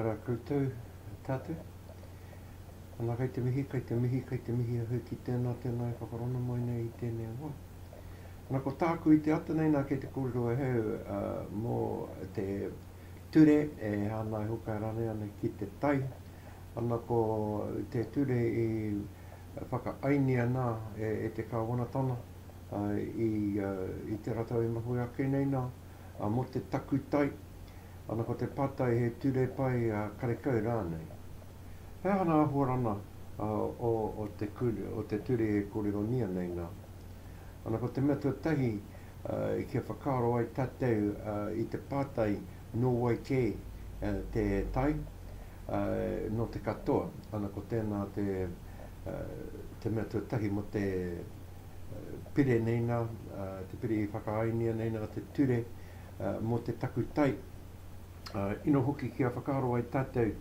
Ara koutou, tātou. Ana kei te mihi, kei te mihi, kei te mihi ahau ki tēnā, tēnā e whakarona mai nei i tēnei awa. Ana ko tāku i te ata nei nā kei te kōrero ahau mō te ture e hānai hokai rānei ana ki te tai. Ana ko te ture i whakaaengia ana e te Kāwanatanga i te ratou e mahue ake nei nā, mō te takutai, ana ko te pātai he ture pai karekau rānei. He aha ngā āhuarana o te ture e kōrerongia nei nā? Ana ko te mea tuatahi kia whakaaro ai tātou i te pātai Nō wai kē te tai? Nō te katoa. Ana ko tēnā te mea tuatahi mō te pire nei nā, te pire i whakaaengia nei nā te ture mō te takutai. Ina hoki kia whakaaro ai tātou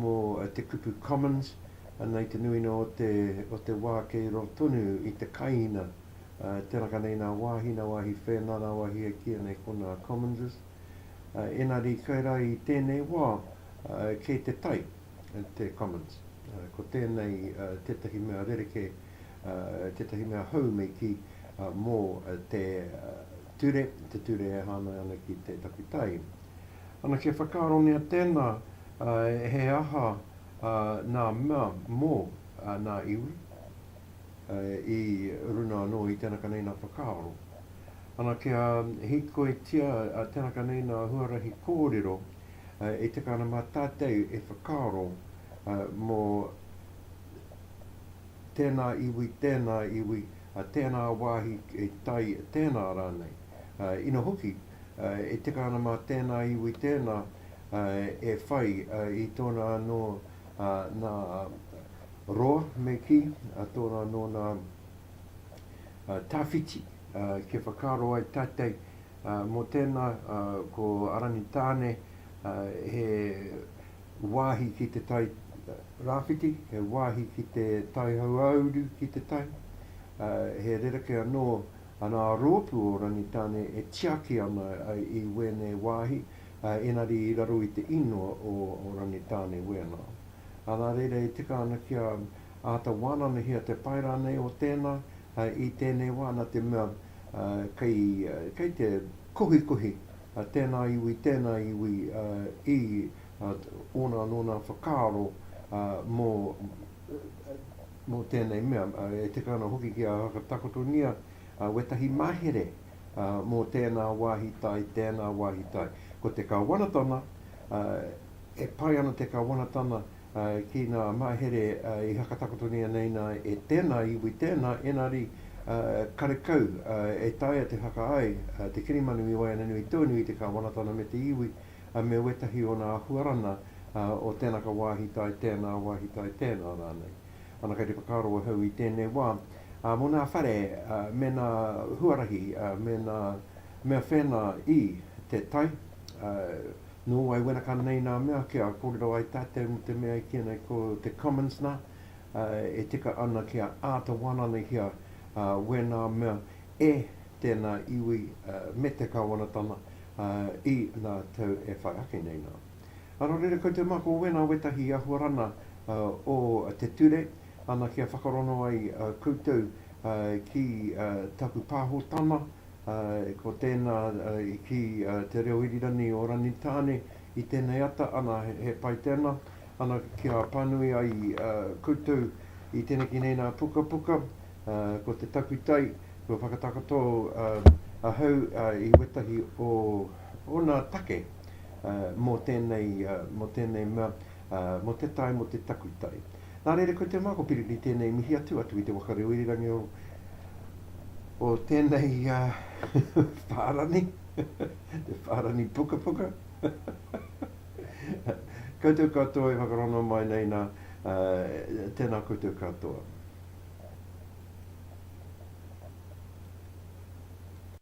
mō te kupu commons, ana i te nuinga o te wā kei roa tonu i te kaina. Tēraka nei nā wāhi, nā wāhi whēnā, nā wāhi e kīia nei ko nā Commonses. Ēnari kai rā i tēnei wā, kei te tai te Commons. Ko tēnei tētahi mea rerekē, tētahi mea hou me kī mō te ture, te ture e hāngai ana ki te takutai. Ana kia whakaarongia tēnā he aha nā mea mō nā iwi. i runa anō i tēnā ka neina whakaaro. Ana kia hīkoitia tēnā ka neina huarahi kōrero e tika ana mā tātou e whakaaro mō tēnā iwi, tēnā iwi, tēnā wāhi e tai, tēnā rānei. Ina hoki, e tika ana mā tēnā iwi, tēnā e whai i tōna anō nā Roa, me kī, a tōna nōna tawhiti, kia whakaaro ai tātei mō tēnā ko Aranitāne he wāhi ki te tai rāwhiti, he wāhi ki te tai hauāuru ki te tai, he rerekē anō anā rōpū o Ranitāne e tiaki ana i wēnei wāhi, engari i raro i te īngoa o Ranitāne wēnā. Arā reira e tika ana kia āta wānanahia te pai rānei o tēnā i tēnei wā nā te mea kei te kohikohi tēnā iwi, tēnā iwi i ōna anō nā whakaaro mō tēnei mea. E tika ana hoki kia whakatakotongia wētahi mahere mō tēnā wāhi tai, tēnā wāhi tai. Ko te Kāwanatanga. E pai ana te Kawanatanga ki ngā mahere i whakatakotoria nei nā e tēnā iwi, tēnā engari karekau e taea te whakaae te kirimanu i waeaneanui tonu i te Kawanatanga me te iwi me wētahi o nā ahuarana o tēnaka wāhi tae tēnā, wāhi tae tēnā rānei. Ana kei te whakaaro ahau i tēnei wā mō nā whare me nā huarahi me nā mea whēnā i te tai, Nō wai wenaka nei nā mea kia kōrero ai tātou mō te mea i kīia nei ko te Commons nā, e tika ana kia āta wānanahia wēnā mea e tēnā iwi me te Kāwanatanga i nā tau e whai ake nei nā. Nō reira koutou mā ko wēnā wētahi i ahuarana o te ture ana kia whakarongo ai koutou ki taku pāhotana Ko tēnā i kī te reo irirangi o Rangitāne i tēnei ata, ana he pai tēnā, ana kia pānui ai koutou i teneki nei nā pukapuka, ko te takutai, kua whakatakoto ahau i wētahi o ōna take mō tēnei mea, mō te tae, mō te takutai. Nā reira, ko te mako piriri tēnei mihi atu, atu i te waka reo irirangi o, o tēnei uh, whārani, te whārani pukapuka. koutou katoa e whakarongo mai nei nā, uh, tēnā koutou katoa.